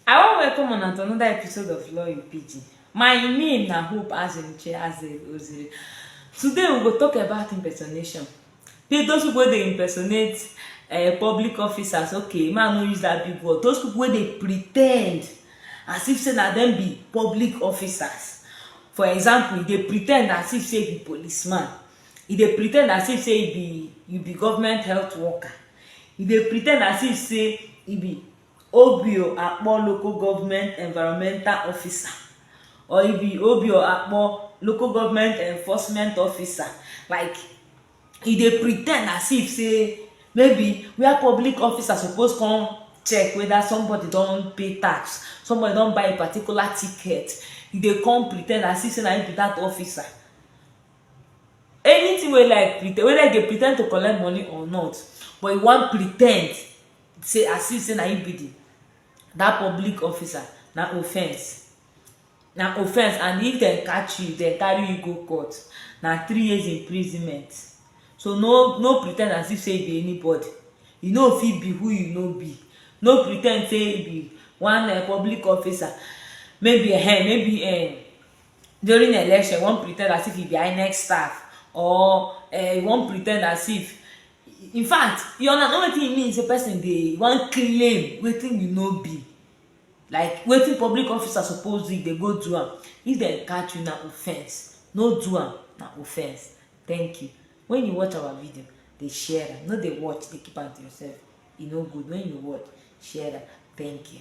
I wan welcome una to another episode of Law in Pidgin. My name na Hope Azunuche Azel Oziri. Today we go talk about impersonation. Pe- Those people wey dey impersonate uh, public officers, okay, man no use that big word. Those people wey dey pretend as if say na them be public officers. For example, e dey pretend as if say e be policeman. e dey pretend as if sey e be e be government health worker, e dey pretend as if sey e be Obio Akpor local government environmental officer or e be Obio Akpor local government enforcement officer like e dey pretend as if sey maybe where public officer suppose come check whether somebody don pay tax, somebody don buy a particular ticket, e dey come pretend as if sey na im be dat officer. anything wey like pretend whether you dey pretend to collect money or not but you wan pretend sey as if sey na you be the that public officer na offence na offence and if dem catch you dem carry you go court na three years imprisonment so no no pretend as if sey you be anybody you no fit be who you no be no pretend sey you be one um public officer maybe um maybe um during election you wan pretend as if you be inec staff or uh, you wan pretend as if in fact you understand wetin e mean say person dey wan claim wetin you no be like wetin public officer suppose do if dem go do am if dem catch you na offence no do am na offence thank you when you watch our video dey share am no dey watch dey keep am to yourself e no good when you watch share am thank you.